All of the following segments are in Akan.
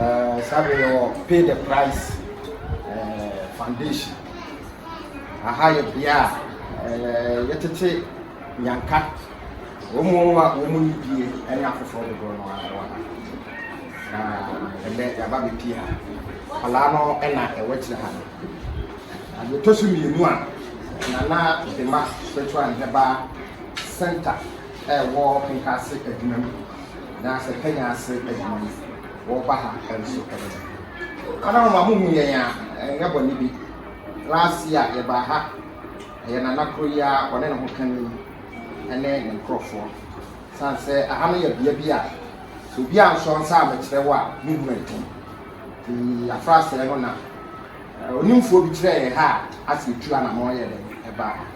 eh, saa bere yɛwɔ pay the price eh, foundation aha yɛ bea a eh, yɛtete nyanka wɔn mu a wɔn mu yi die ɛne afoforɔ dodoɔ no ara wɔ ha na ɛbɛ yaba bɛpie ha kwalaa no ɛna ɛwɔ akyire ha no adeɛ tɔ so mmienu a nana dema spiritual nhɛba center ɛwɔ nkaase adwuma mu na sɛ Kenya ase adwumayɛfo wɔba ha nso ɛyɛ dɛ. Madam ma mo hu yɛn a ɛnyɛ bɔne bi, last year yɛbaa ha, ɛyɛ nana koro yi ara ɔne ne ho kani ɛne ne nkorɔfoɔ. San sɛ aha no yɛ bea bi a sɛ obi ansɔ nsa a mekyerɛ wo a me hu ɛden. Ti afra sɛɛ no na onimfoɔ bi kyerɛɛ yɛn ha a ase etu anamɔn yɛ dɛ ɛbaa ha.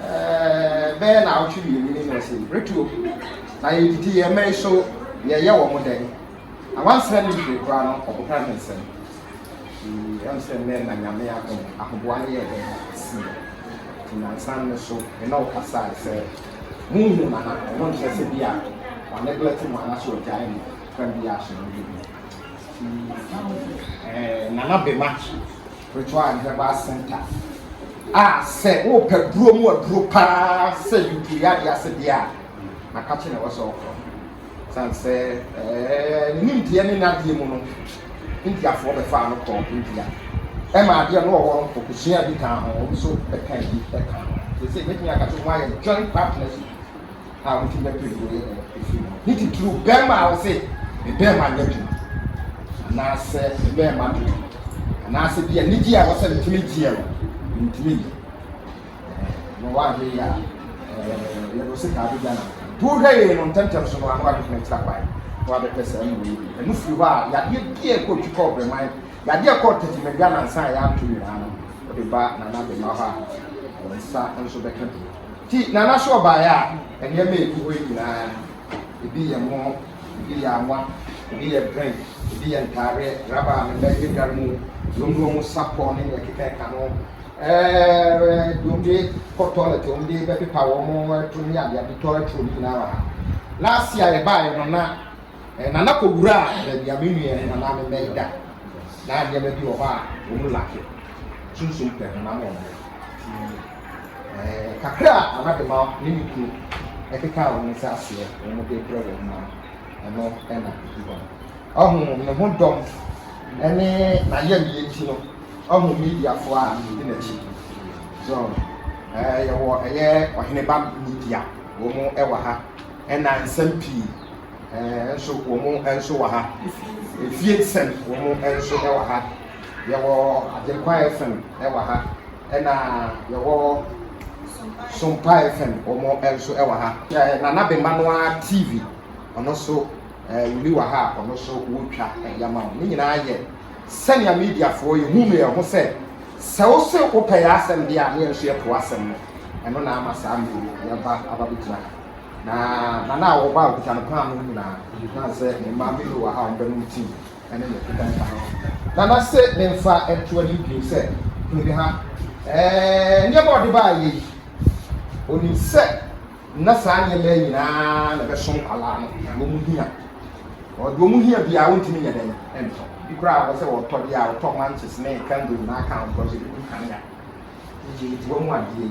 Ɛɛ, bɛyɛ naawɔtwe mmienu ni na ɔsɛ retuo na yɛdidi yɛn mmɛn so yɛyɛ wɔn mo dɛn na wansra ne nhwere koraa no ɔkɔpra ne nsɛm ɛm sɛ nnɛ na nyame adom ahoboa no yɛ dɛn si nti nansan no so ɛna ɔkasae sɛ honhu nana ɔno nkyerɛ sɛ bi a wane blɛte mu anaso ɔgyae mu kwan bi a so no bi nana bema Spiritual and Herbal Center a sɛ wopɛ duro mu aduro paa sɛ yupiri yadeɛ ase deɛ a nakakye na ɛwɔ sɛ ɔkɔ sane sɛ ne nimdeɛ ne nadeɛ mu no indiafoɔ bɛfaa no kɔɔ india ɛma adeɛ no ɔwɔ no kɔkɔsua bi kaa ho nso bɛka bi ɛka ho sɛ sɛ mɛtumi akakye ho ayɛ joint partnership a wotumi bɛpere deɛ ɔyɛ no firi mu. Ne titiriw bɛrima a ɔsɛ ne bɛrima nyɛ adwuma anaasɛ ne bɛrima mpɛ adwuma anaasɛ bi anigye a wɔsɛ metumi gyeɛ no mentumi nyɛ na wɔahwɛ yi a yɛde wo sika abɛgya no nti wohwɛ yei no ntɛmntɛm so no ano adwene kyerɛ kwan na wabɛpɛ saa mu wei bi ɛno firi hɔ a yadeɛ bi a ɛkɔ twi kɔ ɔbrɛman yadeɛ ɛkɔ tɛtimadwa nansa a yɛato nyinaa no wode ba nana bɛma hɔ a wɔn nsa nso bɛka bi Nti Nana so ɔbaeɛ a, nneɛma a ɛgu hɔ yi nyinaa, ebi yɛ mo, ebi yɛ awa, ebi yɛ drink, ebi yɛ ntaadeɛ, rubber a mema yɛ dware mu, binom de wɔn sapɔ ne deɛ ɛkekakeka no, ɛɛ binom de kɔ toilet, wɔn de bɛpepa wɔn ɛto ne adeade toilet roll no nyinaa wɔ ha. Last year yɛbaeɛ no na eh, Nana kɔwura baabi a me nua ne Nana mema yi da. Na nneɛma bi wɔ hɔ a wɔn lake, sunsum pɛ honam wɔn ho. Kakra a Anadema ne ne kuo kekaa wɔn nsa aseɛ na wɔn de brɛ wɔn no, ɛno na ɛdi hɔ no. Ɔho ne ho dɔm ne n'ayamyɛ nti no, ɔho Mediafoɔ a wɔdi n'akyi. So, ɛɛ yɛwɔ ɛyɛ Ɔheneba Media, wɔn wɔ ha, ɛna nsɛm pii ɛɛ nso wɔn nso wɔ ha. Efie nsɛm wɔn nso wɔ ha. Yɛwɔ Agyenkwa FM wɔ ha, ɛna yɛwɔ Sompa FM wɔn nso wɔ ha. Eh, Nana Bema no ara TV, ɔno nso eh, wuli wɔ ha a ɔno nso wotwa eh, yɛma wo. Ne nyinaa yɛ sɛnea mediafoɔ yɛhu no yɛn ho sɛ sɛ wo se wopɛ yɛ asɛm deɛ a ne yɛn nso yɛpo asɛm no. Ɛno na ama saa mmiri yɛba aba bɛgyina ha. Na nana a wɔba a ɔkuta no paano nyinaa, na sɛ mmaa bi wɔ ha a wɔbɛnom tii. ne ne mfeka nka ho. Na n'ase ne mfa nto anim bio sɛ, Hunu me ha. Ɛɛ, nneɛma a ɔde baeɛ yi, ɔnim sɛ na saa nneɛma nyinaa na ɛbɛso nkwadaa no, deɛ wɔn hia. Ɔde wɔn hia biara wɔntumi nyɛ dɛn ntɔ. Bi koraa wɔ sɛ ɔtɔ deɛ a ɔtɔ manches ne kango nyinaa ka ho because ebi gu kanea. Nti wɔn mu adeɛ yi.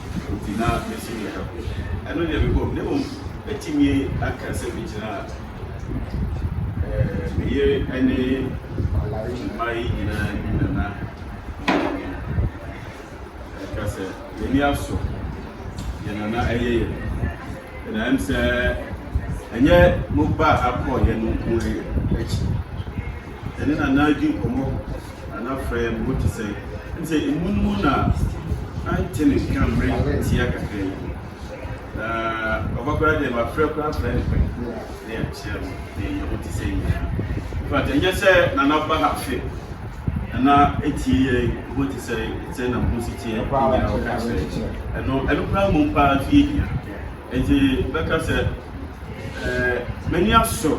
Enti na mesi me ha koom. Ɛno deɛ mebɔ mu. Na mmom mɛtumi aka sɛ megyinaa eh, me yere ne mma yi nyinaa anim na na ɛka sɛ yɛni asɔ yɛn nana ɛyɛ yɛn. Na ɛm sɛ ɛnyɛ mo ba akɔ yɛn nko akyi. Yɛne nana di nkɔmmɔ Na na frɛ mpo te sɛ. Ɛne sɛ emu no mu na na nte ne nka mmerɛ tia kakra yi. Na papa koraa deɛ mafrɛ koraa afrɛ ne pɛn mpo na yɛankyea no na yɛyɛ ho te sɛ nyinaa. In fact, ɛnyɛ sɛ na na ba ha hwɛ na na ɛtie yɛn ho te sɛ sɛ na mo ho si teɛ nyinaa ɔka kyerɛ. Ɛno, ɛno koraa mmom paa nso yɛ hia. Enti bɛka sɛ, Ɛɛ, m'ani asɔ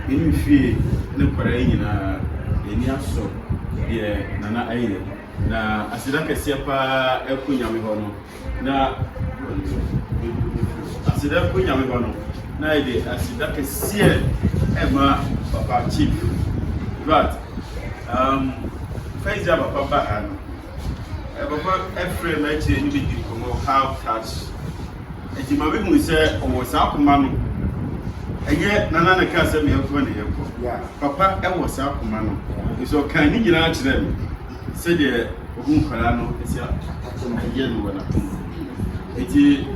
yɛn fie ne kwadaa yi nyinaa. Yɛn ani asɔ deɛ Nana ayɛ. Na aseda kɛseɛ pa ara kɔ Nyame hɔ no, na aseda kɔ Nyame hɔ no, na yɛde aseda kɛseɛ ɛma Papa Chief. In fact, um, first day a Papa ba ha no, Papa frɛɛ m'akyire ne me dii nkɔmmɔ, have touch. Enti ma mehu sɛ ɔwɔ saa koma no. Ɛnyɛ nana na kaa sɛ me yɛnkɔ ne yɛnkɔ. Papa wɔ saa koma no. Nso ɔkaa ne nyinaa kyerɛ me sɛdeɛ ɔhu nkwadaa no sɛ ɛyɛ no wɔ n'akoma. Enti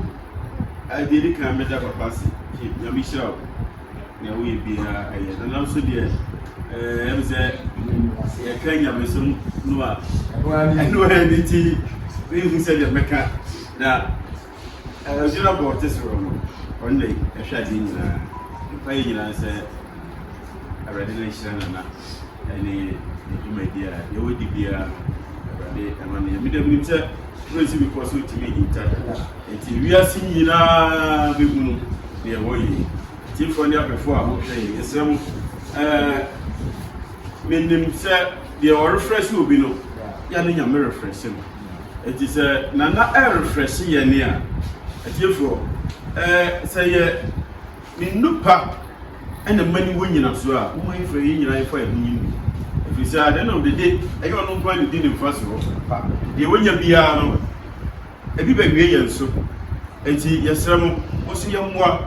adeɛ ni kan mɛda papa ase. Nyame hyira wo. nea woyɛ biara ɛyɛ na nanso deɛ ɛɛ ɛmu sɛ yɛka nyamesom no a ɛno ara ne ti ehu sɛ deɛ mɛka na ɛdwira bɔ ɔte soro no ɔno na ɛhwɛ adeɛ nyinaa mpa yɛ nyinaa sɛ awurade na nhyira nana. ne ne dwumadi a yɛwɔ di biara no, Awurade ɛma no yɛ. Meda mu nim sɛ Praise Bepɔ so tumi hinta da. Nti wiase nyinaa bɛhunu deɛ ɛwɔ yie. Tiefoɔ ne abɛfoɔ a mohwɛ yɛ, yɛsrɛ mo, ɛɛ menim sɛ deɛ ɔrefrɛ se obi no, yɛ ne nyame refrɛ se no. Nti sɛ nana ɛrefrɛ se yɛ ne a, atiefoɔ, ɛɛ sɛ yɛ Ne nnupa na ɛma ne wɔ nnyinasoɔ a woma yɛfrɛ yɛn nyinaa yɛfa yɛn ho yɛn bi. Ɛfiri sɛ adeɛ no dede ɛyɛ ɔno nko ara na ɔdi ne mfasoɔ pa. Deɛ wanya biara no ebi bɛwie yɛn so. Enti yɛsrɛ mo mo nso yɛmmoa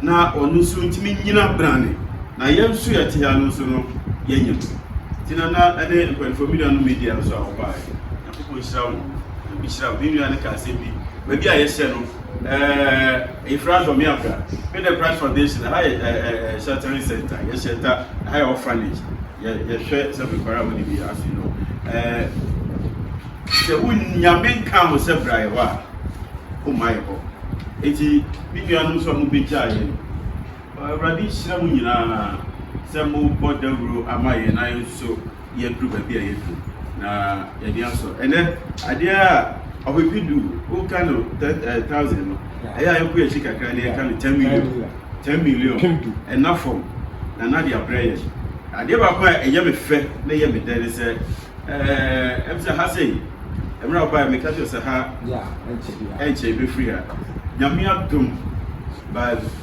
na ɔno nso ntumi nnyina brane na yɛn nso yɛte ha no nso no yɛnyɛ no. Nti Nana ne mpaninfoɔ me nuanom media nso a wɔbaeɛ. Nyankopɔn nhyira wo, Nyame nhyira wo. Me nua no ka asɛm bi, baabi a yɛhyɛ no ɛɛ Efra Dɔmeabra, me dɛ Christ Foundation, ɛha yɛ ɛɛ ɛɛ sheltering center, yɛ shelter, ɛha yɛ orphanage, yɛ yɛhwɛ sɛ me nkwadaa a wɔn ni bi afei no ɛɛ sɛ wo Nyame nka ho sɛ bra yɛ hɔ a, wo mma yɛ hɔ. Eti me nua no nso a mo bɛ gyaa yɛn. Awurade nhyira mo nyinaa sɛ mobɔ dawuro ama yɛn na yɛn nso yɛaduru baabi a yɛaduru na yɛde asɔ. Ɛnɛ adeɛ a ɔpepe du woka no thousand no ɛyɛ a yɛkɔ yɛakyi kakra na yɛka no ten million ten million ɛna fam na na de abrɛ yɛn. Adeɛ baako a ɛyɛ me fɛ na ɛyɛ me dɛ ne sɛ ɛm sɛ ha sei mmerɛ a wobaeɛ meka kyerɛ sɛ ha ɛnkyɛ bɛfiri ha Nyame adom by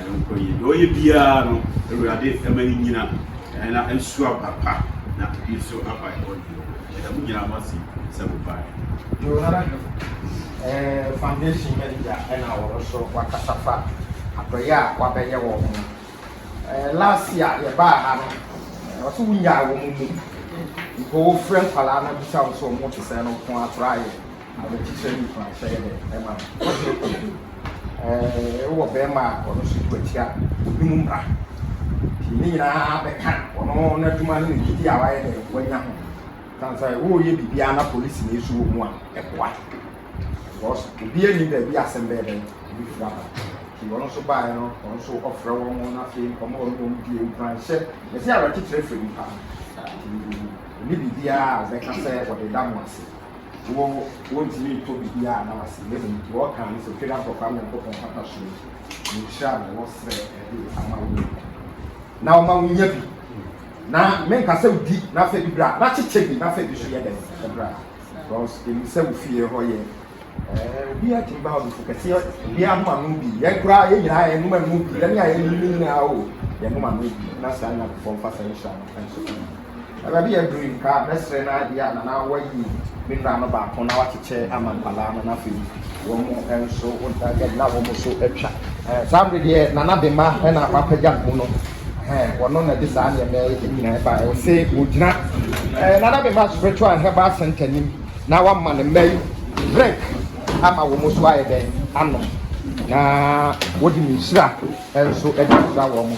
Ɛnkɔ yie. Deɛ ɔyɛ biara no, Awurade ma no nyina na ɛnso aba pa na ebi nso aba bɔne mu. Yɛda mo nyinaa mo ase sɛ mo baeɛ. Johanna Duk, eh, Foundation Manager ɛna ɔno nso wakasa fa adɔeɛ a wabɛyɛ wɔn ho. Eh, last year yɛbaa ha no, eh, ɔse wonyaa wɔn mu. Mpo wofrɛ nkwadaa no bisa wɔn sɛ wɔn te sɛn no, wɔko ara koraa yɛ. Awerɛkyekyerɛ ne nkuranhyɛ yɛ dɛn ma no? Ɛɛ, wowɔ barima a ɔno nso tu atia obi mu mmara. Nti ne nyinaa bɛka ɔno n'adwuma ne ne gyidi a wayɛ dɛn wanya ho. Ɛsiane sɛ woreyɛ biribiara na polisini nso wɔ mu a, ɛboa. Because obiara nni baabi a asɛm bɛyɛ dɛn bɛfiri aba. Nti ɔno nso baeɛ no, ɔno nso ɔfrɛ wɔn na afei nkɔmmɔ a ɔne wɔn die nkuranhyɛ. Yɛsɛ awerɛkyekyerɛ firi nipa. Nti ɛne biribiara a ɔbɛka sɛ wɔde da mo ase. wo wontumi ntɔ biribi a na wase na mmom deɛ ɔka ne sɛ Otwa Dankwa Kwame Nyankopɔn mpata so ne nhyira na wɔsrɛ ɛde ama wo na wɔma wo nya bi na menka sɛ wodi na afɛ bi bra na kyekyɛ bi na afɛ bi so yɛ dɛn sɛ bra because ɛmu sɛ wo fie hɔ yɛ obi atumi ba ɔdufo kɛseɛ obi ahoma no bi yɛn koraa yɛn nyinaa yɛn noma no bi yɛn a yɛn nyinaa o yɛn noma no bi na saa nyankopɔn fa saa nhyira no nso Ɛba bi a Doreen kaa, Mɛsrɛ na ebia a na na wɔayi me nua no baako na wɔakyekyɛ ama nkwadaa no na afei wɔn nso na wɔn nso atwa. Saa bere deɛ Nana Bema na wapagya ne ho no, wɔno na ɛde saa nneɛma yi nyinaa ba. Ɛwɔ sɛ wɔgyina Nana Bema Spiritual Herbal Center nim na wama ne mma yi drink ama wɔn nso ayɛ dɛn anom na wɔde ne nhyira nso de nhyira wɔn.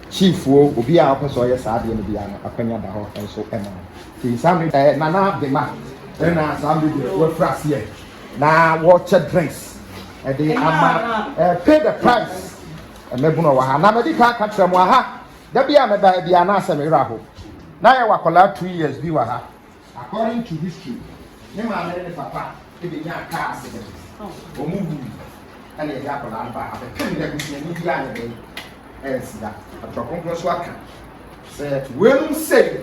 Kyifoɔ, obiara a ɔpɛ sɛ ɔyɛ saa adeɛ no biara no, akwanya da hɔ nso ma no. Nti saa mmerɛ deɛ. Nana Bema na saa mmerɛ deɛ wɔafiri aseɛ na wɔrekyɛ drinks de ama pay the price. Mmabunu a ɔwɔ ha na madi kan aka kyerɛ mo aha, da bi a mɛba ha biara na asɛ me werɛ aho. Na yɛwɔ akwadaa two years bi wɔ ha. According to history, ne maame ne ne papa bɛnyaa car accident, wɔn wui ɛna yɛde akwadaa no baa ha bɛpem dɛ busuani biara ne dɛn ɛnsi da. Atwerɛ Kronkron nso aka sɛ weinom sei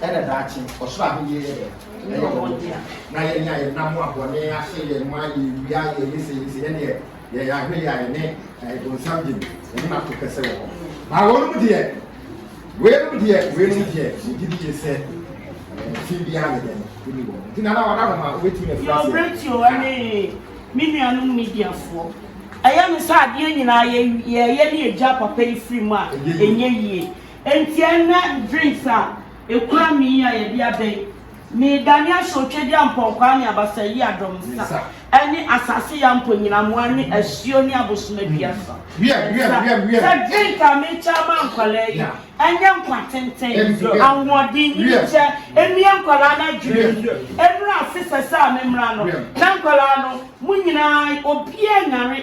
ɛna daakye ɔsoro ahennie yɛ dɛn ɛyɛ wɔn dea. Na yɛn a yɛnam a bɔne ahyɛ yɛn ma, yɛwia, yɛyɛ sei yɛ sei, ɛnneɛ. yɛyɛ ahwɛ yɛ a yɛne eh, bonsam gye mu yɛne no ato kɛsɛ wɔ hɔ na wɔnom deɛ weinom deɛ weinom deɛ yɛgye bi yɛ sɛ eh, fi biara ne dɛn ɛni wɔ nti nana wada no ma wobɛtumi afiri aseɛ brɛtio ne me nuanom mediafoɔ ɛyɛ me sɛ adeɛ nyinaa yɛyɛ ne ɛgya papa yi firi mu a ɛnyɛ yie ɛnti ɛnɛ drinks a Ekura me yi a yɛde aba yi, meedane ahyɛ otwadeɛ ampɔnkwaa ne abasaayie adɔm nsa, ne asase yea mponnyinamoa ne asuo ne abosomadua so nsa, sɛ drink a merekyɛ ama nkwadaa yi, ɛnyɛ nkwa tenten, ahoɔden, nimdeɛ, ɛmmue nkwadaa no adwene mu, ɛmmra ase sɛ sɛ a memmra no, na nkwadaa no, mo nyina ara, obiara nyare,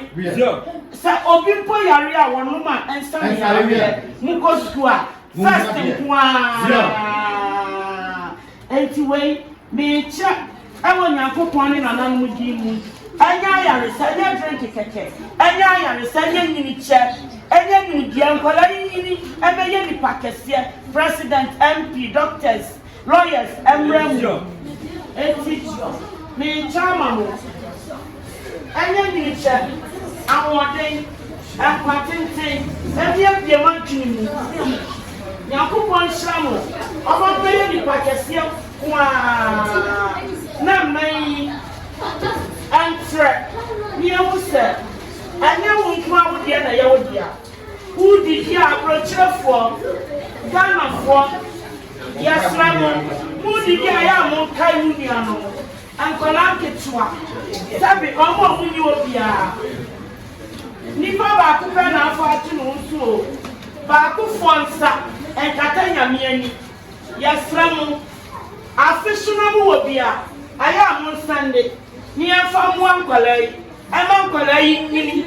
sɛ obi mpo yare a wɔnom a ɛnsa no yareɛ, mokɔ sukuu a, First nko ara. Enti wei mekyɛ ɛwɔ Nyankopɔn ne nananom din mu. Ɛnyɛ ayaresa, ɛnyɛ drink kɛkɛ, ɛnyɛ ayaresa, ɛnyɛ nyinikyɛ, ɛnyɛ nimdeɛ. Nkwadaa yi nyini ɛbɛyɛ nipa kɛseɛ, president, MP, doctors, Lawyers mmra mu nti mekyɛ ama mo ɛnyɛ nwene kyɛ ahoɔden nkwa tenten ɛbiabie mo adwene mu Nyankopɔn nhyira mo ɔma mo bɛyɛ nipa kɛseɛ ko aa na mmɛn yi ɛntrɛ ne yɛhu sɛ ɛnyɛ wo nko a wo deɛ na ɛyɛ wo dea. Kuw didi a aborɔkyerɛfoɔ, Ghanafoɔ, yɛsrɛ mo mo didi a ɛyɛ a monkae mo nuanom, nkwadaa nketewa, dabi wɔn a wɔnni hɔ biara. Nipa baako pɛ na afa ato ne ho so o, baakofoɔ nsa nkata Nyame ani. Yɛsrɛ mo, afe so na mowɔ bi a, ɛyɛ a monsande na yɛmfa mmoa nkwadaa yi. Ɛmma nkwadaa yi nyini.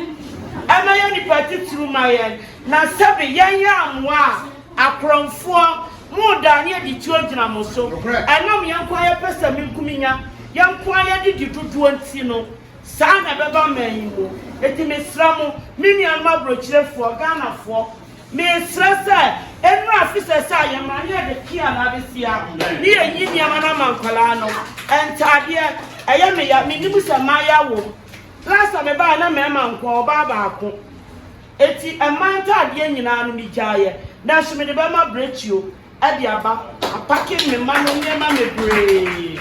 Ɛmɛyɛ nipa titiriw ma yɛn. Na sɛbe yɛnyɛ amoa a, akorɔmfoɔ, moredane adi tuo gyina mo so. Ɛnam yɛn nko ara yɛ pɛsɛmenkominya, yɛn nko ara yɛde di dodoɔ nti no, saa na ɛbɛba man yi mu. Enti mesrɛ mo, me nuanom aburokyerefoɔ, Ghanafoɔ, Mesrɛ sɛ ɛnura fisɛ sɛ ayɛ ma ne yɛde pia no adesia ne yɛ yi nneɛma no ama nkwadaa no ntaadeɛ ɛyɛ me ya menim sɛ maayɛ awom last a mebaeɛ na mɛɛma nkoa ɔbaa baako eti ɛmaa ntaadeɛ nyinaa no megyaeɛ nanso mede bɛma brɛkyio de aba, apake me mma no nneɛma bebree.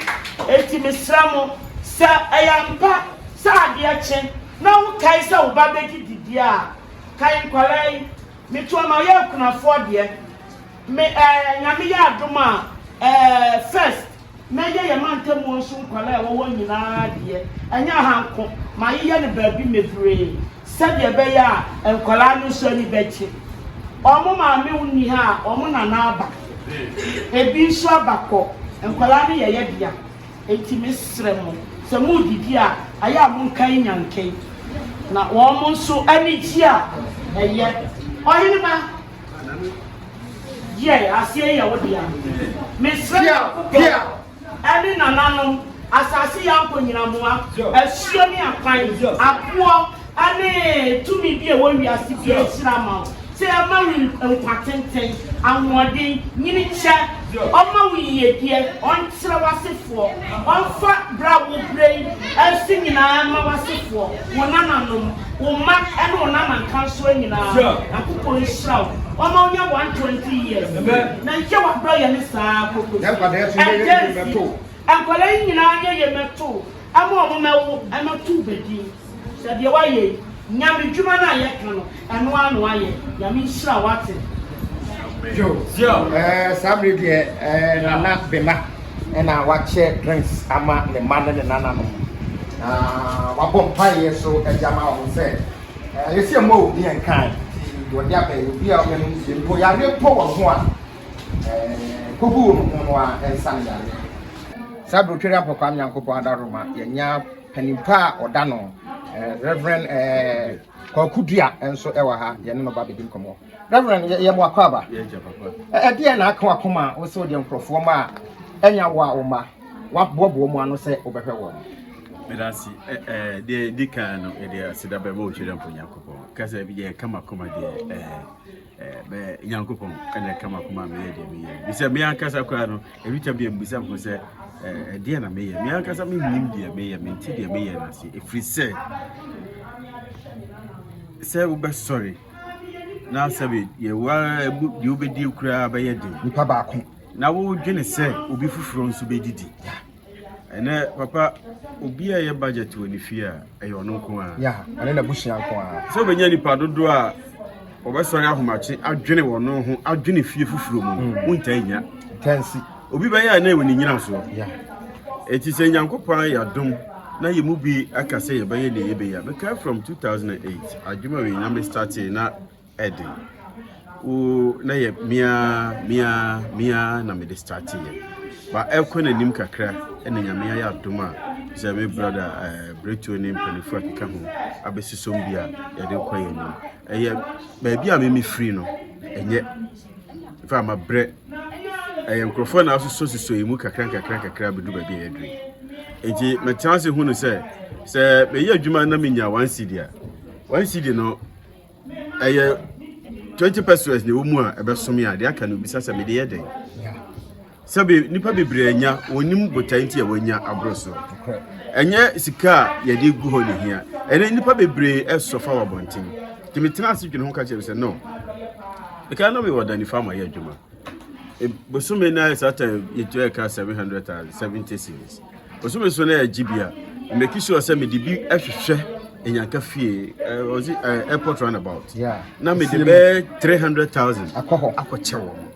Enti mesrɛ mo, sɛ ɛyɛ ampa sɛ adeɛ kye na wokae sɛ wo ba bɛdi didie a, kae nkwadaa yi, Meto ama yɛ akunafoɔ deɛ, me ɛɛ Nyame yɛ adom a ɛɛ first Mɛyɛ yɛn mantamuo nso nkwadaa a ɛwɔ hɔ nyinaa deɛ, ɛnyɛ aha nko, mayeyɛ no baabi mebree sɛdeɛ ɛbɛyɛ a nkwadaa no nso ani bɛgye. Wɔn maame nni ha a, wɔn nana aba, ebi nso aba kɔ, nkwadaa no yɛ yɛ dea, enti mesrɛ mo, sɛ moredidi a, ayɛ a monkan nyanken, na wɔn nso ani gye a, ɛyɛ. Ɔhene ba. Deɛ aseɛ yɛ wo dea. Mesrɛ Nyankopɔn ɛne nananom, asase yi ankonnyinamoa, asuo ne akwan, aboɔ ɛne tumi bi a ɛwɔ wiase biara nhyira ma wo, sɛ ɛma wo nkwa tenten, ahoɔden, nyini kyɛ. Ɔmma wo yiedie, Ɔnkyerɛ w'asefoɔ, Ɔmfa berɛ a wobrɛ yi nso nyinaa mma w'asefoɔ, wo nananom, wo mma ne wo nanankansoɔ nyinaa. Nyankopɔn nhyira wo, Ɔmma wonya 120 years, na nkyɛ w'adɔ yɛ ne saa ara kɔkɔsi. Ɛda nsi, nkwadaa yi nyinaa nyɛ yɛ mmɛtoo, ɛma wɔn mmɛwo, ɛmɛtoo bɛ din. Sɛ deɛ wayɛ yi nyame dwuma no a yɛ ka no ɛno ara na wayɛ nyame nhyira wo wate. Ɛɛ saa bere deɛ ɛɛ nana bema ɛna wakyɛ drinks ama ne mma ne ne nana nom na wabɔ mpaeɛ so ɛde ama wɔn sɛ ɛɛ yɛsi ɛmɔ obi ɛnkan ti deɛ ɔde abɛn yɛ obi a ɔbɛn no nsie mpo yareɛ mpo wɔn ho a ɛɛ kogu wɔn ho no a ɛnsa ne yareɛ. Saa bere otwere apɔkwaa nyankopɔn adaroma yɛnya. Panin pa a ɔda no Rev. Kwaku Dua nso wɔ ha, yɛne no ba bɛdi nkɔmmɔ. Rev. Yɛ mo akwaaba. Ɛdeɛ na aka wakoma a wosɛ wodeɛ nkurɔfoɔ ma a ɛnya wo a wo mma waboaboa mu ano sɛ wobɛhwɛ wɔn? Medase ɛɛ deɛ di kan no ɛdeɛ aseda bɛma Otwirempo Nyankopɔn kasa bi deɛ ɛka makoma deɛ ɛɛ. bɛyɛ nyankopɔn ɛna ɛka makoma meyɛ deɛ meyɛ bisɛ me ankasa koraa no ɛbi tam deɛ mbisa ho sɛ ɛdeɛ na meyɛ me ankasa mennim deɛ meyɛ mente deɛ meyɛ no ase ɛfiri sɛ sɛ wobɛsɔre na sɛ yɛwa deɛ wobɛdie koraa bɛyɛ den nipa baako na wodwene sɛ obi foforɔ nso bɛdidi ɛnɛ papa obi a ɛyɛ budget wɔ ne fie a ɛyɛ ɔno nko a ya ɔne n'abusua nko a sɛ wobɛnya nnipa dodoɔ a wɔbɛsɔre ahomakye adwene wɔn ho adwene fie foforɔ mu no hmm. wontaa nya tansi obi bɛyɛ a na ɛwɔ ne nyina soɔ ɛti sɛ nyankopɔn yɛ adom na yɛ mu bi aka sɛ yɛbɛyɛ ne yɛbɛyɛ bɛka from 2008 adwuma wei na mestarte na den. Ooh na yɛ me ara me ara me ara na mede starteeɛ. Ba ɛrekɔ n'anim kakra ɛna Nyame ayɛ adom a sɛ me brada ɛɛ Bretuo ne mpanimfoɔ a ɛkeka ho abɛsosɔm bi a yɛde kɔ yɛn anim. Ɛyɛ baabi a me mefiri no ɛnyɛ fa ama brɛ ɛyɛ nkurɔfoɔ na asosɔ sosɔ yɛn mu kakra nkakra nkakra abɛdu baabi a yɛduru yi. Enti mɛtena ase hunu sɛ sɛ meyɛ adwuma na menya one cedi a one cedi no ɛyɛ twenty percent na ɛwɔ mu a ɛbɛsome a deɛ aka no bisa sɛ mede yɛ dɛn sɛbe nnipa bebree anya wɔnim botae nti a wɔanya aboro so ɛnyɛ sika a yɛde gu hɔ ne hia ɛnɛ nnipa bebree ɛsɔfa wɔ abɔnten nti metena ase dwene ho ka kyerɛ me sɛ no ɛka na mewɔ da nifa ma yɛ adwuma e, bosome no ayɛ saa ta yɛtua ɛka 770 series Ɔsɛ me so na ɛgye bi a make sure sɛ mede bi hwehwɛ Nyanka fie uh, was it, uh, airport runabout yeah. na mede bɛɛ 300000 akɔkyɛ wɔ mo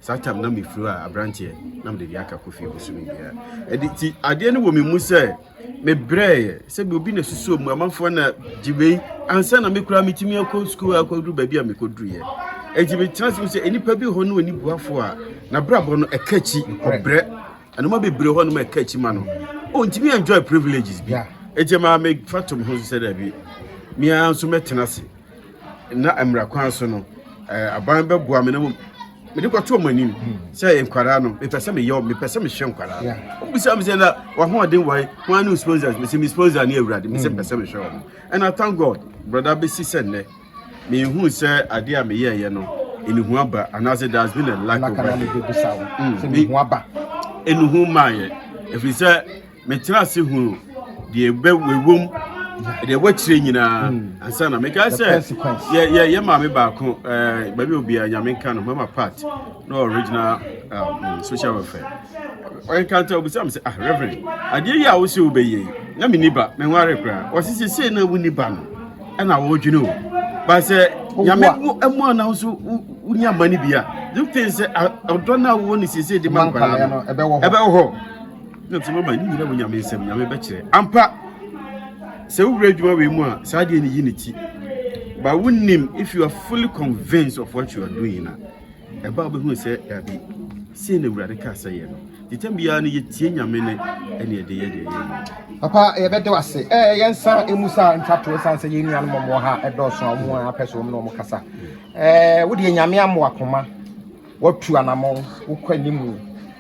saa tam na mefiri a aberanteɛ na mede de aka kɔ fie bosome biara ɛde ti adeɛ no wɔ me mu sɛ mebrɛɛ sɛ bi obi na susuo mu amanfoɔ na gye wei ansa na mekura metumi akɔ sukuu akɔduru baabi a mekɔduruiɛ ɛnti metena se sɛ nnipa bi hɔ ne ɔnibuafoɔ a nabrabɔ no ɛka akyi ɔbrɛ Nneɛma bebree hɔ nom a ɛka akyi ma no. Oh, ntumi enjoy privileges bi. Eti maa me fa tom ho sɛ daabi. Me ara nso mɛtena ase. Na mmara kwan so no, eh, aban bɛboa me na mo mede kɔto ɔmo anim sɛ nkwadaa no mepɛ sɛ meyɛ mepɛ sɛ mehwɛ nkwadaa no ɔmo bisa me sɛ na wahoɔden wae ho ano sponsors me sɛ me sponsor ne awurade me sɛ mepɛ sɛ mehwɛ ɔmo and I thank God brɔda bɛsi sɛ nnɛ Minhuu sɛ ade a meyɛeɛ no, nnuhu aba anaasɛ there has been a lack of rain. Nnuhu mm, mmaeɛ ɛfiri sɛ metena ase hunu deɛ ɛwom deɛ wakyire nyinaa hmm. ansa na mekae sɛ yɛ maame baako eh, baabi obiara nyame nka no mama part no original um, social welfare ɔnkanta obisa me sɛ ah reverend adeɛ yi a wo sɛ wobɛyɛ na menni ba menware koraa ɔse sesei na wonni ba no ɛna wɔredwene o ba sɛ nyame mu ana wo so wonya ma no bi a you think sɛ ɔdɔ no a wowɔ no sesei de ma nkwadaa no ɛbɛwɔ hɔ nti mama ne nyina wɔ nyame nsɛm nyame bɛkyerɛ ampa sɛ wowura adwuma wei mu a saa deɛ ne yi ne ti but wonim if you are fully convinced of what you are doing na Ɛbaa bɛhunu sɛ dabi, sei na Awurade kaa sɛ yɛ no. Nti tam biara no yɛtie Nyame no ɛne ɛde yɛ deɛ yɛyɛ no. Papa yɛbɛda wo ase. Ɛɛ yɛn nsa emu saa ntwatoɔ san sɛ yɛn nuanom wɔn wɔ ha ɛdɔɔso a wɔn apɛ so wɔn na wɔn kasa. Ɛɛ wodeɛ Nyame ama wakoma, watu anamɔn, wokɔ anim.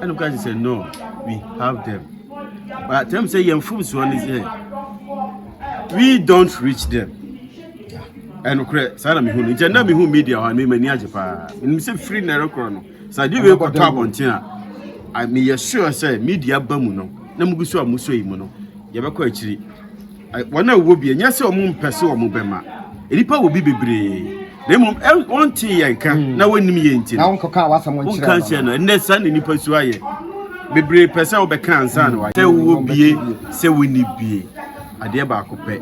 ɛna ɔka kyerɛ sɛ no we have them but ɛm sɛ yɛn mfomsoɔ ne sɛ we don't reach them ɛnokorɛ saa na mehu no nkyɛ na mehu media hɔ a memani agye paa menim sɛ firi na ɛrekorɔ no sɛ ade wei kɔtɔ abɔnten a meyɛ sure sɛ media ba mu no na mugu so a musɔ yi mu no yɛbɛkɔ akyiri Wɔn a wɔwɔ bi, ɛnyɛ sɛ wɔmpɛ sɛ wɔbɛma. Nnipa wɔ bi bebree, na mmom wɔntee yɛn nka hmm. na wɔnnim yɛn nti. Na wɔnkɔka w'asɛm nkyerɛ no. Wɔnka nkyerɛ no. Ɛnnɛ saa na nnipa su ayɛ. Bebree pɛ sɛ wɔbɛka ansa na wɔayɛ. Sɛ wowɔ bie, sɛ wonni bie, adeɛ baako pɛ.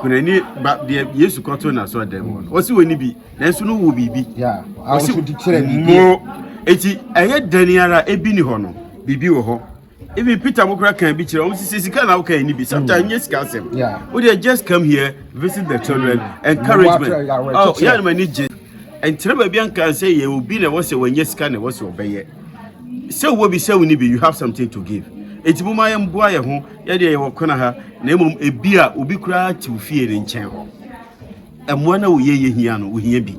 Kunani ba deɛ Yesu kɔto na so dɛm hɔ. Wɔsi wɔnni bi, nanso no wɔ biribi. Wɔsi mo eti ɛyɛ dɛn ara ebi ni hɔ no, biribi wɔ hɔ. even peter mo kora kan bi kyerɛ wɔn sisi sika na woka ɛni bi sometimes nye sika asɛm o deɛ just come here visit the children encouragement oh yɛ anam ani gye nkyerɛ baabi anka sɛ yɛ obi na ɛwɔ sɛ wɔnyɛ sika na ɛwɔ sɛ ɔbɛyɛ sɛ wɔ bi sɛ woni bi you have something to give eti mo ma yɛn boa yɛn ho yɛde yɛwɔ kɔna ha na mmom ebi a obi koraa te fie ne nkyɛn hɔ Mmoa no a woyɛ yɛ hia no, wohia bi.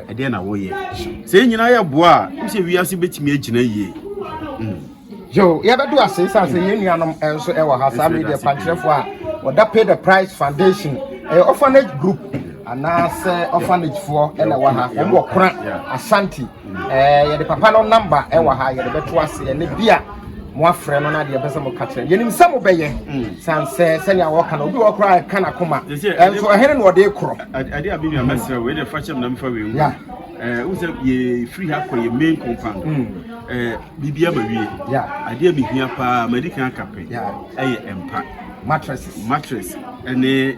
Ɛdeɛ na wɔyɛ. Sɛ yɛn nyinaa yɛ boa a, ɛmu sɛ wiase bɛtumi agyina yie. Hmm. Yo, yɛbɛdu ase sɛ sɛ yɛn nuanom nso ɛwɔ ha saa media kwankyerɛfoɔ a wɔda Pay the Price Foundation ɛyɛ orphanage group anaasɛ orphanagefoɔ ɛna ɛwɔ ha wɔn wɔ kora Ashanti Eh, yɛde papa no namba ɛwɔ ha yɛde bɛto aseɛ ne bi a moafrɛ no na deɛ ɛpɛ sɛ moka kyerɛ yɛnim sɛ mobɛyɛ mm. san sɛ sɛnea wɔka no obi wɔ koraa ɛka na koma ɛnso ɛhene na ɔde korɔ ade a menua mɛsrɛ wei deɛ fa kyɛm na mefa wei wu eh, wo sɛ yɛfiri ha kɔ yɛ main compound mm. eh, biribia ma wie adeɛ a mehia paa madi kan aka pɛ ɛyɛ mpa mattress mattress ɛne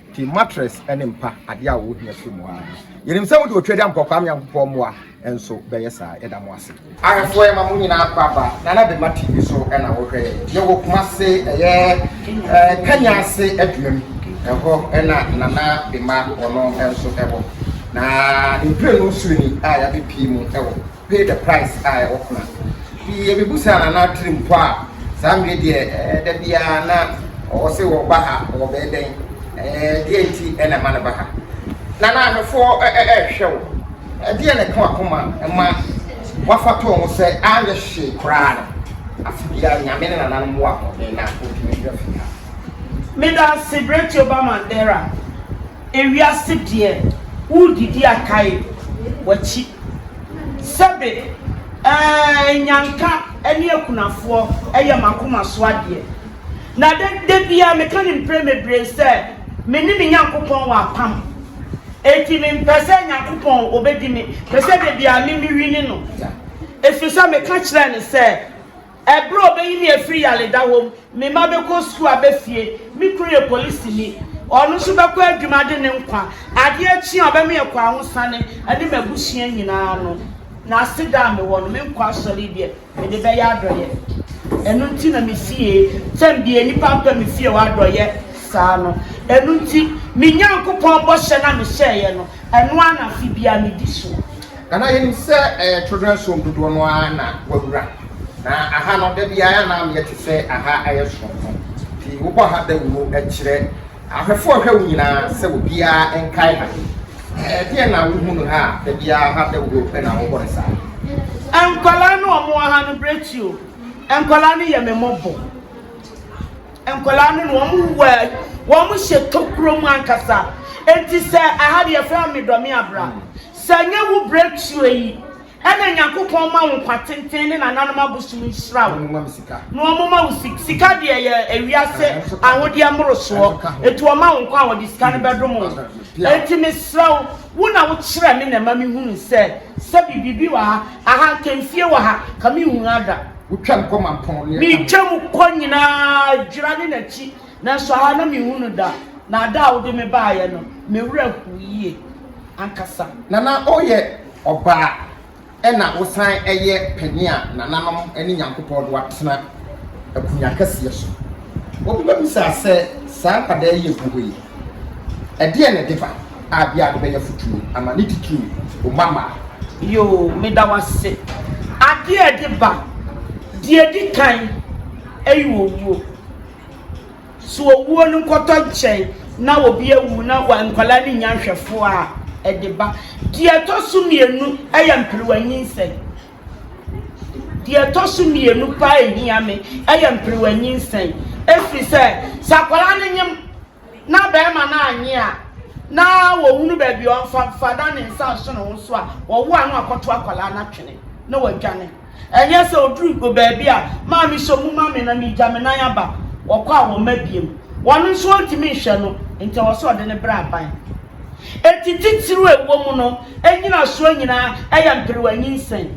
Pii mattress ne mpa adeɛ a wo hia firi mu aa no. Yɛnim sɛ mode otwa de ampɔ Kwame Nyankopɔn mmoa nso bɛyɛ saa. Yɛda mo ase. Ahwɛfoɔ yɛma mo nyinaa akɔ aba Nana Bema TV so na wo hwɛ yɛn. Yɛ wɔ Kumase ɛyɛ Kanya ase adwuma mu. Ɛhɔ na Nana Bema ɔno nso wɔ. Na ne mprenu soro ni a yɛabɛ pie mu wɔ. pay the price a ɛwɔ ho na pii yɛ bibu saa na n'atiri mpo a saa mmiri deɛ ɛɛ da biara na ɔwɔ se wɔ ba ha wɔ bɛɛ dɛn ɛɛ deɛ nti ɛna ɛma no ba ha na n'ahwɛfoɔ ɛɛ ɛɛhwɛ wo ɛdeɛ na ɛka wakoma ɛma wafa tɔɔ ho sɛ anyɛ hyee koraa no afe biara nyame ne nana no mmoa ahoɔden na ɔntumi mmerɛ fie ha. Meda ase Bretio ba Mandera. ewiase deɛ woredidi a kae w'akyi Sɛbe eeh Nyanka ne akunafoɔ yɛ m'akoma so adeɛ Na da da biara meka no mprɛ mebree sɛ Me ne me Nyankopɔn wɔ apam Enti me mpɛ sɛ Nyankopɔn ɔbɛdi me Pɛ sɛ da biara me me wini no Ɛfiri sɛ meka kyerɛɛ no sɛ Bere a obeyi me afiri yaleda hɔ mu, me mma bɛkɔ sukuu aba fie, me kunu yɛ polisini, ɔno nso bɛkɔ adwuma de ne nkwa adeɛ kye a ɔbɛma yɛakɔ ahosane ne m'abusua nyinaa no, n'aseda a mewɔ no, me nkɔ asɔre yi deɛ, mede bɛyɛ adɔeɛ. Ɛno nti na mefie, sɛn deɛ nnipa mpɛ me fie hɔ adɔeɛ saa no. Ɛno nti, me Nyankopɔn bɔhyɛ no a mehyɛeɛ no, ɛno ara na afe biara medi so. Na na yɛnim sɛ ɛyɛ children's home dodoɔ no ara na wawura. Na aha no da biara na ameɛ te sɛ aha ayɛ soronko. Nti wobɔ ha dawuro kyerɛ ahwɛfoɔ a ɛhwɛ wo nyinaa sɛ obiara nkae ha. Ɛdeɛn na wohu no ha a da biara ha dawuro pɛ na wobɔ no saa? Nkwadaa no a wɔwɔ ha no berɛ ti o, nkwadaa no yɛ me mmɔbɔ. Nkwadaa no no wɔn wɔ wɔn hyɛ tokuro mu ankasa. Nti sɛ aha deɛ yɛfrɛ Medɔme Abra. Sɛ ɛnyɛ wo breakthrough yi ɛna Nyankopɔn ma wo nkwa tenten ne nananom abosom nhyira wo na ɔmo ma wo sika, sika deɛ yɛ ewiase ahodeɛ mmorosoɔ, enti ɔma wo nkwa a ɔde sika no bɛdom wo, enti mesrɛ wo, wo na wo kyerɛ me na ɛma me hunu sɛ sɛbi biribi wɔ ha, aha nka mfie wɔ ha ka me nhunu ha da. Wotwam kɔ Mampɔn ne Amoa. Metwam kɔ nyinaa dwira ne n'akyi. Nanso ha na menhu no da, na da a wode me baeɛ no, me werɛ hoo yie ankasa. Na na woyɛ ɔbaa, ɛnna wosan yɛ panin a nananom ne Nyankopɔn de wo atena akonnwa kɛseɛ so. Obi bɛbisa sɛ, Saa nkwadaa yi a ɛgu hɔ yi, ɛdeɛn na ɛde ba? A Bi a wode bɛyɛ afotuo ama ne titiriw wo mma mmaa. Yoo, meda wo ase. Adeɛ a ɛde ba, deɛ ɛdi kan yɛ owuo. So owuo no nkɔtɔ nkyɛn na obi awu na nkwadaa no nnya nhwɛfoɔ a, ɛde ba. Deɛ ɛtɔ so mmienu yɛ mperewa nyinsɛn. Deɛ ɛtɔ so mmienu paa ɛhia me yɛ mperewa nyinsɛn ɛfiri sɛ, sɛ akwadaa no nyem na bɛrima no annye a, na wɔhunu baabi a ɔmfa mfa na ne nsa nso ne ho so a, ɔwo ano akɔto akwadaa no atwene na wadwane. Ɛnyɛ sɛ ɔduru baabi a, maame sɛ ɔmu ma me na megya me nan aba, ɔkɔ a wɔmma biom. Ɔno nso ɔntumi nhwɛ no, nti ɛwɔ sɛ ɔde no brɛ aban. Enti titiriw a ɛwɔ mu no, nnyinasoɔ nyinaa yɛ mperewa nyinsɛn.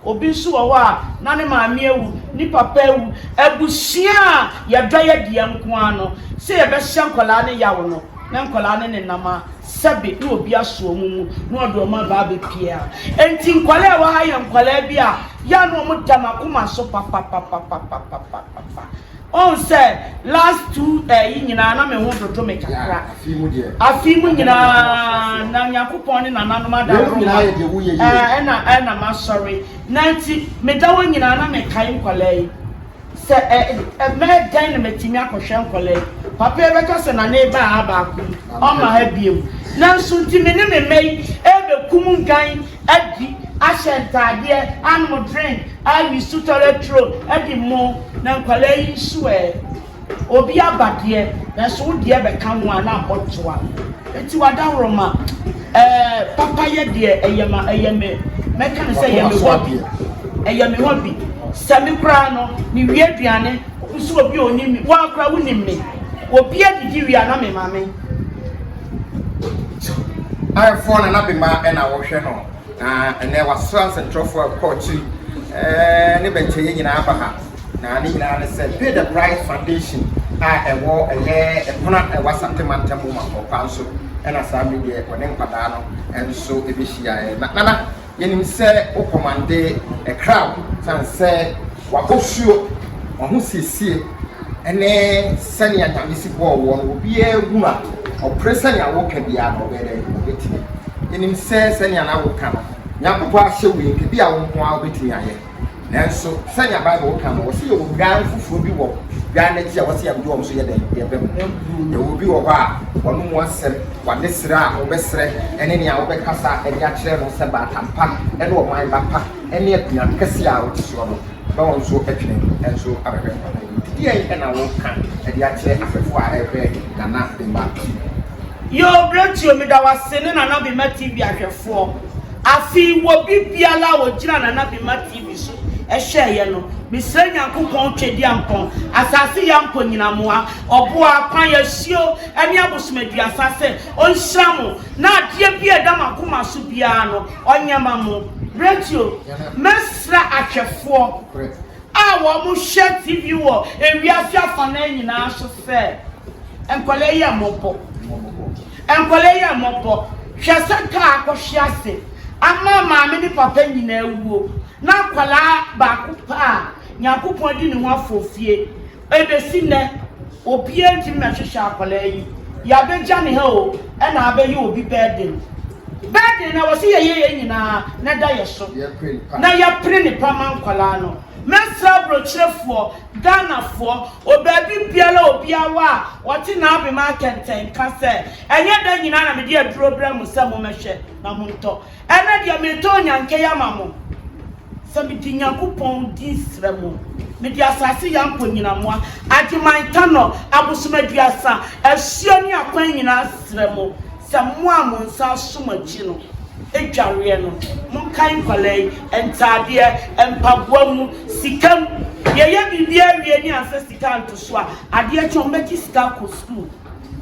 Obi nso wɔ hɔ a, na ne maame awu, ne papa awu. Abusua a yɛdɔ yɛ dea nko ara no, sɛ yɛbɛhyɛ nkwadaa no yaw no, na nkwadaa no nenam a, sɛbe na obi aso wɔn mu na ɔde wɔn aba abɛpue a. Enti nkwadaa a ɛwɔ ha yɛ nkwadaa bi a, yɛ a na wɔda m'akoma so papapapapapapapapa. Ɔn sɛ last two ɛyi nyinaa na me ho dodo me kakra. Afii mu nyinaa na Nyankopɔn ne nananom ada adom ma me. Ɛɛ ɛna ɛna masɔre. Na nti me da hɔ nyinaa na me kae nkwadaa yi. Sɛ ɛ ɛ mɛyɛ dɛn na matumi akɔhwɛ nkwadaa yi. Papa yi bɛka sɛ Nana eba ha baako yi, ɔmma ha biom. Nanso nti me ne me mma yi ɛɛbɛkum nnwan adi, ahyɛ ntaadeɛ, anom drink, awi su tɔrɛ turo, adi mmo, na nkwadaa yi nso ɛ? Obi aba deɛ, nanso wo deɛ bɛka ho a na ɔtoa. Nti w'adaworoma, ɛɛ, papayɛ deɛ ɛyɛ ma, ɛyɛ me, mɛka no sɛ ɛyɛ me hɔbi, ɛyɛ me hɔbi. Sɛ me koraa no, mewie aduane, nso obi a ɔnim me, wo ara koraa wonim me, obi adidi wie a na me maame. Ayɛfoɔ na n'abema na wɔhwɛ no na ɛnɛ wasra nsɛntwerɛfoɔ a ɛkɔ akyiri ɛɛ ne bɛnkyɛeɛ nyinaa aba ha na ne nyinaa ne sɛ pay the price foundation a ɛwɔ ɛyɛ ɛpono a ɛwɔ asante mantam mu mankɔkwa nso ɛna saa mi deɛ wɔne nkwadaa no nso ɛbɛhyiaeɛ na nana Yɛnim sɛ wo kɔmande kra wo sane sɛ w'abosuo, w'ahosiesie ne sɛnea Nyame si bɔɔ woɔ no wɔ biaa hu a ɔpere sɛnea wo ka biaa no ɔbɛyɛ dɛn ɔbɛtumi. Yɛnim sɛ sɛnea na wo ka no Nyankopɔn ahyɛ wo yi nka bia wo nkoaa wobɛtumi ayɛ. Nanso sɛnea Bible ka no, wɔsi yɛwɔ nnwan foforɔ bi wɔ nnwan no akyi a wɔsi yɛde wɔn so yɛ dɛn yɛbɛ mu. Yɛwɔ bi wɔ hɔ a wɔne mu asɛm, wɔne srɛ a wɔbɛsrɛ ne nea wɔbɛkasa de akyerɛ no sɛ baatampa ne ɔman ba pa ne akonnwa kɛseɛ a wɔte soɔ no bɛ wɔn so twene nso abɛhwɛ nkwa no mu. Deɛn na woka de akyerɛ afɛfoɔ a ɛrehwɛ Nana Bemba TV? Yoo Bretio meda wo ase ne Nana Bemba TV ahwɛfoɔ. Afei wɔ bi biara a ɔgyina na na bi ma TV so hwɛ yɛ no, me srɛ Nyankopɔn Twɛdiankpɔn, Asase Yankpɔn Nyinamoa, Ɔboa, Kwan, Asuo ɛne Abosom Aduasa sɛ ɔnhyira mo na adeɛ bi a ɛda mo akoma so biara no ɔnyɛ ma mo. Bretio, mɛ srɛ ahwɛfoɔ a wɔn mo hwɛ TV wɔ ewiase afanaa nyinaa so sɛ, nkwadaa yi yɛ mmɔbɔ. Nkwadaa yi mmɔbɔ, hwɛ sɛ kaa akɔhwe ase ama maame ne papa nyinaa awuo, na akwadaa baako pɛ a Nyankopɔn adi ne ho afɔfie. Ɛbɛsi nnɛ, obiara ntumi mɛhwehwɛ akwadaa yi. Yɛabɛgya ne ha o, ɛna abɛyɛ obi burden. Burden no a wɔse yɛyɛ yɛn nyinaa na ɛda yɛn so, na yɛpere nnepa ma nkwadaa no. Mɛsrɛ aburokyerɛfoɔ Ghanafoɔ, wɔ baabi biara a obiara wɔ a ɔte n'abema akɛntɛn ka sɛ, Ɛnyɛ da nyinaa na mede aduro brɛ mo sɛ mommɛhwɛ na montɔ. Ɛnnɛ deɛ meretɔ onyankɛyi ama mo. Sɛ mede Nyankopɔn din srɛ mo, mede asase yɛ apɔnyinamoa, Agyeman Tano, abosom aduasa, asuo ne akwan nyinaa srɛ mo Sɛ mo a mo nsa aso mo akyi no dwareɛ no, monkae nkwadaa yi, ntaadeɛ, mpaboa mu, sika mu. Yɛyɛ biribiara awie ne ansa sika anto so a, adeɛ kye a, wɔbɛgye sika akɔ sukuu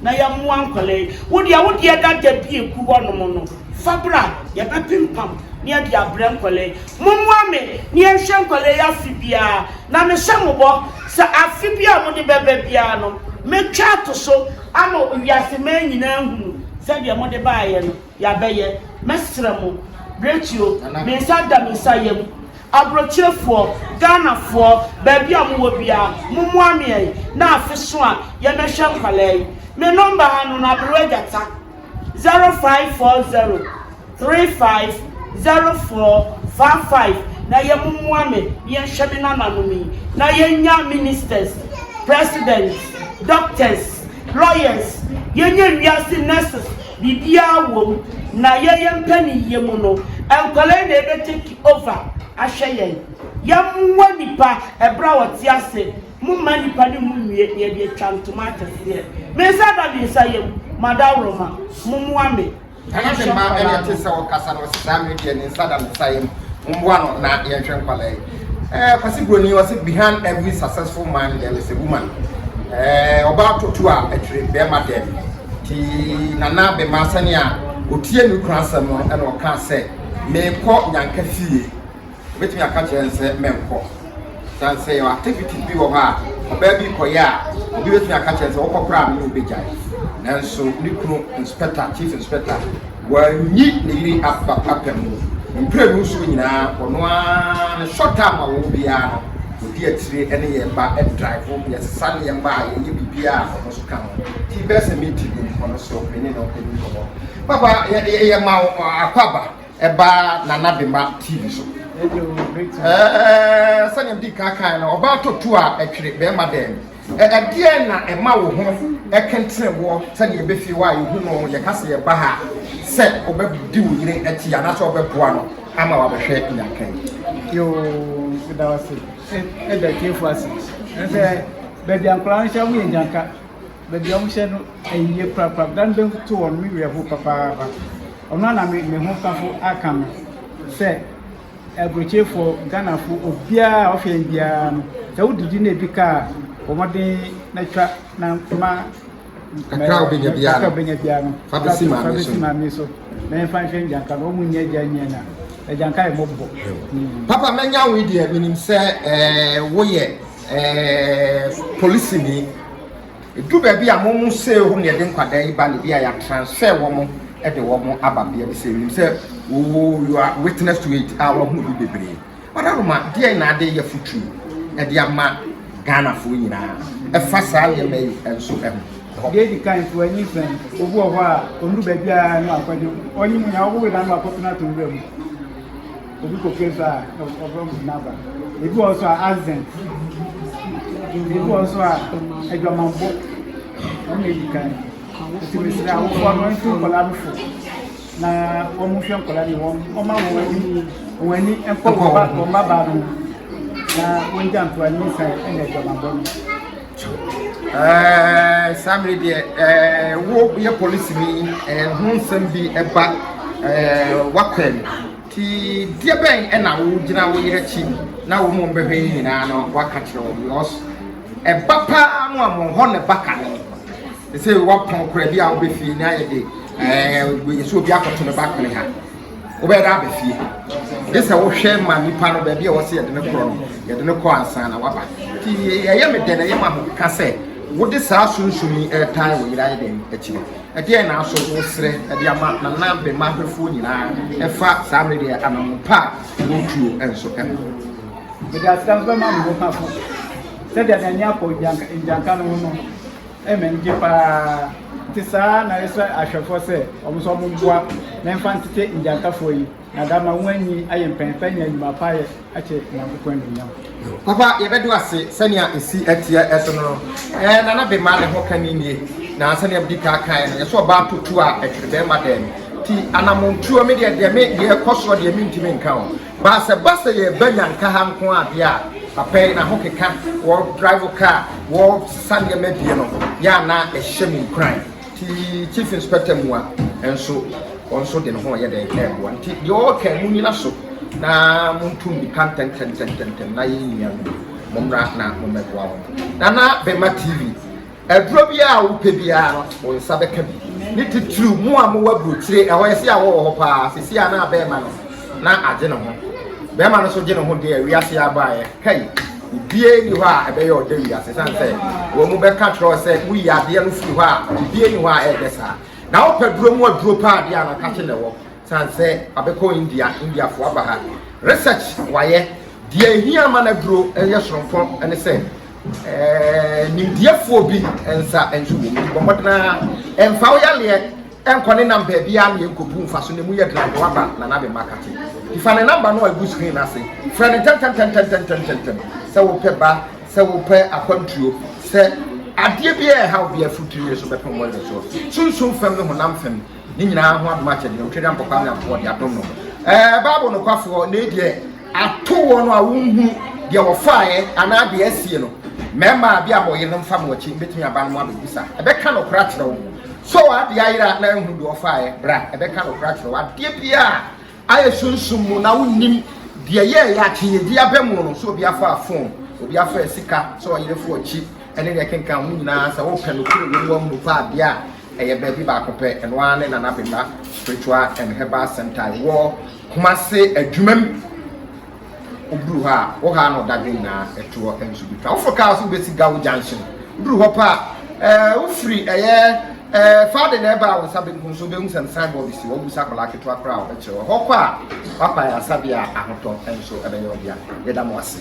na yɛmmoa nkwadaa yi. Wo deɛ, wo deɛ dada bi a ɛgu hɔnom no, fa bra, yɛbɛpempam na yɛde abrɛ nkwadaa yi. Mommoa me na yɛnhwɛ nkwadaa yi afe biara, na mehyɛ mo bɔ sɛ afe biara a mode bɛba biara no, mɛtwa ato so. Ama wiase mmaa nyinaa ahunu sɛ deɛ mode baeɛ no, yɛabɛyɛ. Mɛsrɛ mo, Bretio, me nsa da me nsa yam. Aburokyerefoɔ, Ghanafoɔ, baabi a mowɔ biara, mommoa me ɛ, na afe so a, yɛmmɛhwɛ nkwadaa yi. Me nɔmba ha no no, Aberewa Gyata. Zero five four zero three five zero four four five na yɛ mo moa me na yɛ nhwɛ me nana nom yi na yɛ nya ministers president doctors lawyers yɛ nya wiase nurses biribiaa wɔ mu na yɛ yɛ mpɛ ne yie mu no nkwadaa yi na ɛbɛ take over ahwɛ yɛn yɛ moa nipa ɛberɛ a ɔte ase. Momma nnipa no mu nwie na yɛde atwa ntoma akɛseɛ. Me nsa da me nsa yam, m'adaworoma, mommoa me. Ɛno de mma ɛne ɛte sɛ ɔkasa no ɔse saa mmerɛ deɛ ne nsa da ne nsa yam mommoa no na yɛnhwɛ nkwadaa yi eh, Kwasi Broni ɔse behind every successful man there is a woman eh, ɔbaa totu a ɛtwere bɛrima dɛm ti nana bɛma sɛnea ɔtie ne kunu asɛm no ɛna ɔkaa sɛ meekɔ nyanka fie Obetumi aka akyerɛ no sɛ menkɔ. Esiane sɛ yɛwɔ activities bi wɔ hɔ a ɔbaa bi kɔyɛ a, obi betumi aka akyerɛ no sɛ wokɔ koraa a me ne wo begyae. Nanso ne kunu inspector, chief inspector, wanyi ne yere aba apam mu. Mprenu so nyinaa ɔno ara ne short term a ɔwɔ biara no, odi akyire ne yɛn ba drive, yɛsesa nneɛma a yɛyɛ biribiara a ɔno nso ka ho. Ti bɛyɛ sɛ meeting bi ni, ɔno nso me ne no di nkɔmmɔ. Papa, yɛma wo akwaaba. ɛbaa Nana Bema TV so. Ɛɛ sɛnea mdi kan kan no ɔbaa totu a ɛtwere bɛrima dɛn ɛdeɛ na ɛma wo ho ɛkentene wɔ sɛdeɛ ɛbɛfie hɔ a yɛhu no yɛka sɛ yɛba ha sɛ ɔbɛdi wo yere akyi anaasɛ ɔbɛboa no ama wabɛhwɛ nyanka yi yo meda wase ɛda tiefo ase ɛsɛ baabi ankora no hyɛ woyɛ nyanka baabi a wɔhyɛ no ayie korakora. Dan bɛto wɔn me werɛ ho papaapa. Ɔno na me me ho safo aka no sɛ aburokyefoɔ Ghanafo obiara a ɔhwɛ biara no sɛ wodidi na ebi ka a wɔmɔden na twa na ma kakra wobɛnya biara no wobɛnya biara no fa bɛsi maame so fa bɛsi maame so na yɛmfa nhwɛ ngyanka no wɔn mu nyɛ gya nyɛ na agyanka yɛ mɔbɔ papa mɛnya wo deɛ menim sɛ ɛɛ woyɛ Eh, polisini. Edu baabi a mo mo sɛ hɔ na yɛde nkwadaa yi ba no bi a yɛatransfer wɔn de wɔn aba bea bi sɛ nim sɛ oh you are witness to it a wɔahu bi bebree. Ɔdaroma deɛ na ade yɛ futuo ɛde eh, ama Ghanafoɔ nyinaa ɛfa saa nneɛma yi nso ɛho. Deɛ edi kan so anyi fɛn obi wɔ hɔ a ɔndu baabi a na akɔgye ɔnyi mu na ɔwɔ wei na akɔpena to nwura mu. Obi kɔ fie nso a, ɔfrɛ mo naba. Ebi wɔ nso a accident. Ebi wɔ nso a adwamanbɔ. Wɔn na edi kan. Nti mesrɛ awofoɔ no nso nkwadaa no fo na wɔn hwɛ nkwadaa no wɔn wɔn ma wɔn ani wɔn ani nkɔ wɔn ba wɔn ba baa no na wɔn gya ntoa ne nsa ɛna adwamanbɔ no. Ɛɛ saa mmiri deɛ ɛɛ wo yɛ polisi ni ɛɛ ho nsɛm bi ɛba ɛɛ wakɔɛ no. Enti deɛbɛn na wo gyina wo yere akyi na wo mom bɛhwɛ yi nyinaa no waka kyerɛ wɔn because ɛba paa no a mo hɔ na ɛba kane te sɛ wapɔn kora bi a wobɛ fie na ayɛ de ɛɛ nso obi akɔto no ba kone ha wobɛyɛ dɛ aba fie gye sɛ wohwɛ ma nipa no baabi a wɔsɛ yɛde no korɔ no yɛde no kɔ ansa na waba nti ɛyɛ me dɛn ɛyɛ ma mo ka sɛ wode saa sunsum yi ɛretan wo yere ayɛ dɛn akyiri Ɛdeɛn na asɔre no srɛ de ama nanabema hwɛfoɔ nyinaa ɛfa saa mmere deɛ anammɔn pa a ɛwɔ tuo nso ho? Mede asedanse bɛma me hokafo. Sɛdeɛ n'ani akɔ ngyanka no ho no, ɛyɛ m'ani gye paa. Nti saa na ɛsrɛ ahwɛfoɔ sɛ wɔn nso wɔmmoa na ɛmfa ntete ngyankafoɔ yi. na dza ama woenyi ayɛ mpɛnpɛn nye ndwuma pa a ayɛ akyɛ Nyankopɔn enuonyam. Ɔba a, yɛbɛdo ase sɛnea esi tseɛ so no. Ɛɛ, Nana Bema ne ho ka no nie, na sɛnea medi kan kaeɛ no, yɛsɛ ɔbaa to tuo a, ɛtwere bɛrima dɛn? Nti anammɔntuo me deɛ, deɛ me deɛ ɛkɔ soɔ deɛ mentumi nka o. Baa sɛ ba sɛ yɛreba Nyanka ha nko ara deɛ a, papa yi n'ahokeka, wɔ drive car, wɔ sesa nneɛma abie no, yɛ a na ɛhyɛ me nkuran. Nti Chiefins Pɛtɛ Mua nso ɔno nso de ne ho reyɛ dɛn reboa. Nti deɛ ɔreka yi munnyina so na montu mmirika ntɛntɛntɛntɛntɛm na yɛn nuanom mommra na mommɛboa wɔn. Nana Bema TV, aduro biara a wopɛ biara no wo nsa bɛka bi. Ne titiriw mo a mowɔ aburokyire ɛhɔ yɛsi a wɔwɔ hɔ paa sisi a na bɛrima no na agye ne ho. Bɛrima no nso gye ne ho deɛ wiase abaeɛ kai. Obiara nni hɔ a ɛbɛyɛ ɔdɛ wiase ɛsiane sɛ wɔn mu bɛka kyerɛ sɛ woyi adeɛ no firi hɔ a obiara nni hɔ a ɛyɛ saa na wopɛ duro mu aduro paa adeɛ a nakakye na ɛwɔ ɛsiane sɛ abɛkɔ india indiafoɔ aba ha research wayɛ deɛ ɛhia ma no aduro ɛyɛ soronko ne sɛ nimdeɛfoɔ bi nsa nso wɔ mu bɔmmɔdenaa ɛmfa wo yaleɛ Ɛnkɔ ne nam baabiara na ɛnkɔbu mfaso na ɛmu yɛ den anka waba Nana Ade Mma Kate. Nti fa ne namba no a ɛgu screen no ase frɛ no ntɛmntɛmntɛmntɛmntɛmntɛm sɛ wopɛ ba, sɛ wopɛ akwantuo, sɛ adeɛ biara a ɛhaw biara firi tiri yere so bɛpem wɔ yere soɔ. Sunsum fam ne honam fam ne nyinaa ho adom akyɛdeɛ, Otwadeɛ Ampɔkwaa Nyankopɔn de adom no. Ɛɛ Bible nokwafoɔ, nei deɛ. Ato wɔn a wonhu deɛ wɔfaeɛ anaa deɛ asie no. Mmarima a bi a mo yerenom mfa mo akyi no bɛtumi aba no mo abɛbisa. Ɛbɛka nokorɛ akyerɛ wo. Sɛ w'adeɛ ayera a na anhu deɛ ɔfaeɛ, bra, ɛbɛka nokorɛ akyerɛ wo. Adeɛ biara a ayɛ sunsum mu na wonnim deɛ ɛyɛeɛ a, twe yɛn di aba mu no, sɛ obi afaa fon, obi afaa sika, sɛ ɔyere fo akyi, ɛne deɛ ɛkenka ho nyinaa, sɛ wopɛ nokorɛ wɔ mu, woahunu paa adeɛ a, ɛyɛ baabi baako pɛ, ɛno ara ne Nana Bimah Spiritual and Herbal Centre a ɛwɔ Kumase adwuma mu. Woduru hɔ a, wo ha no dadwen nyinaa ɛto hɔ nso bi ka. Woforo kaa so wobɛsi Gawo junction. Woduru hɔ pɛ a, ɛɛ wofiri ɛyɛ ɛɛ Fade na ɛba a wo nsa benkum so wobɛhu sɛ sign board si hɔ. Wobisa akwadaa ketewa koraa a ɔbɛkyerɛ wo. Ɛhɔ kɔ a, w'akwan yɛ asabea a ahotɔ nso ɛbɛyɛ wo dea. Yɛda mo ase.